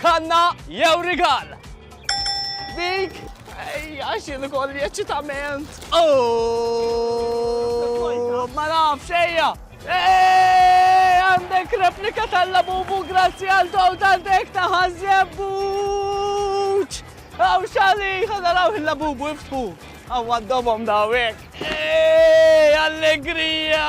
Kanna jew rigal? Dik! Ej, għax jien ukoll eċitament. Oh! Ma nafx ejja! Ej, għandek replika tal-labubu grazzi għal daw daldek ta' ħazjebbuċ! Għaw xali, ħadaraw il-labubu iftħu! Għaw għaddobom dawek! Ej, allegrija!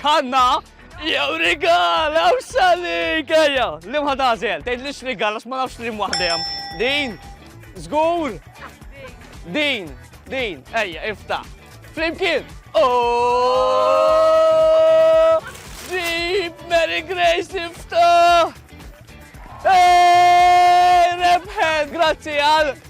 Kanna, jew rigal, jew xalik, ejja. Li mħad għazel, tgħid li x'rigal għax ma nafx li mwaħdem. Din, żgur. Din, din, ejja, ifta. Flimkien. Oh! Deep Mary Grace ifta! Hey, Rebħed, grazzi għal